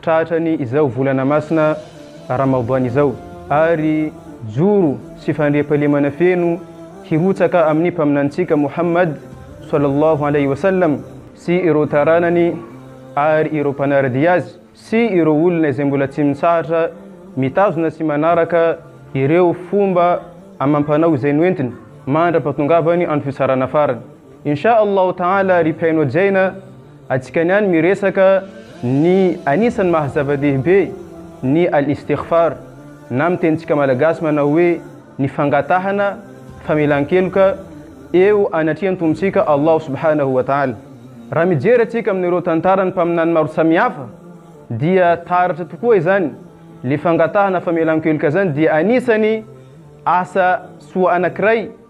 Tratra ny izao volana masina Ramadan izao ary joro sy fandriampahalemana feno hirotsaka amin'ny Mpaminanintsika Mouhammad Swallallahu Alayhi wa Sallam sy ireo taranany ary ireo mpanara-dia azy sy ireo olona izay mbola tsy mitsahatra mitazona sy manaraka ireo fomba amam-panao izay noentiny mandra-pahatongavany andro fitsarana farany. Insha Allah Taala ry Piano Jaina atsika niany miresaka ny anisany maha zava dehibe ny Al Istighfar na amin tenitsika Malagasy manao hoe ny fangatahana famelankeloka eo anatrehan Tompontsika Allah Subhanahu wa Taala. Raha mijery atsika amin ireo tantaran mpaminany maro samihafa dia taratra tokoa izany le fangatahana famelankeloka zany dia anisany asa soa anakiray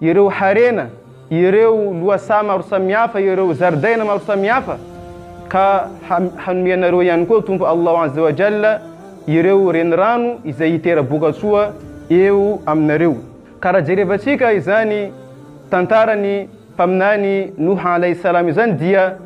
ireo harena, ireo lohasaha maro samihafa, ireo zaridaina maro samihafa, ka hanome anareo ihany koa Tompo Allah Azza wa Jalla ireo renirano izay hitera-bokatsoa eo aminareo. Ka raha jerevantsika izany tantaran'ny Mpaminany Nuh Alayhi Salam izany dia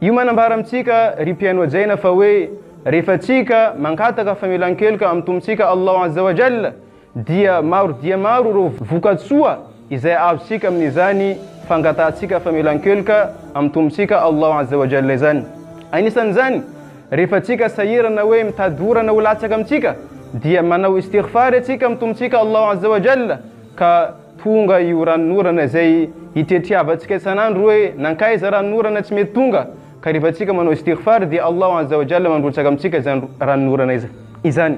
io manambara amintsika ry mpihaino hajaina fa hoe rehefa tsika mankataka famelan-keloka amin'ny Tompontsika Allah Azza wa Jalla dia maro dia maro ireo vokatsoa izay azontsika amin'izany fangatahantsika famelan-keloka amin'ny Tompontsika Allah Azza wa Jalla izany. Anisan'izany, rehefa tsika sahirana hoe mitady orana ho latsaka amintsika, dia manao istighfar isika amin'ny Tompontsika Allah Azza wa Jalla, ka tonga io ranon'orana izay itretriavantsika isan'andro hoe nankaiza ranon'orana tsy mety tonga, ka rehefa tsika manao istighfar dia Allah Azza wa Jalla mandrotsaka amintsika izany ranon'orana izany.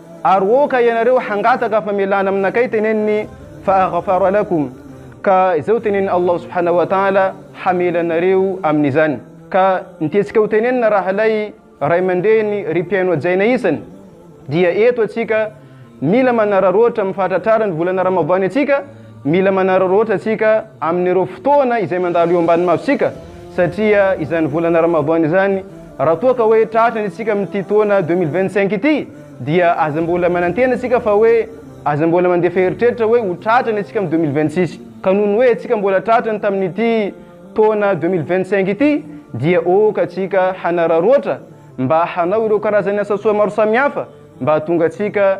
Ary oka ianareo hangataka famelana aminakay teneniny fa'aghfara lakum ka izay ho tenenin'i Allah subhanahu wa ta'ala hamela anareo amin'izany. Ka ny tiantsika ho tenenina rahalay ray aman-dreny ry mpihaino hajaina isany dia eto atsika mila manararaotra amin'ny fahatratrarany volana ramadany atsika Mila manararaotra tsika amin'ireo fotoana izay mandalo eo ambany masontsika satria izany volana Ramadan izany raha toa ka hoe tratra ny antsika amin'ity taona deux mille vingt cinq ity dia aza mbola manantena tsika fa hoe aza mbola mandefa eritreritra hoe ho tratra ny antsika amin'ny deux mille vingt six ka noho ny hoe antsika mbola tratra ny tamin'ity taona deux mille vingt cinq ity dia ôka tsika hanararaotra mba hanao ireo karazan'ny asa soa maro samihafa mba hahatonga antsika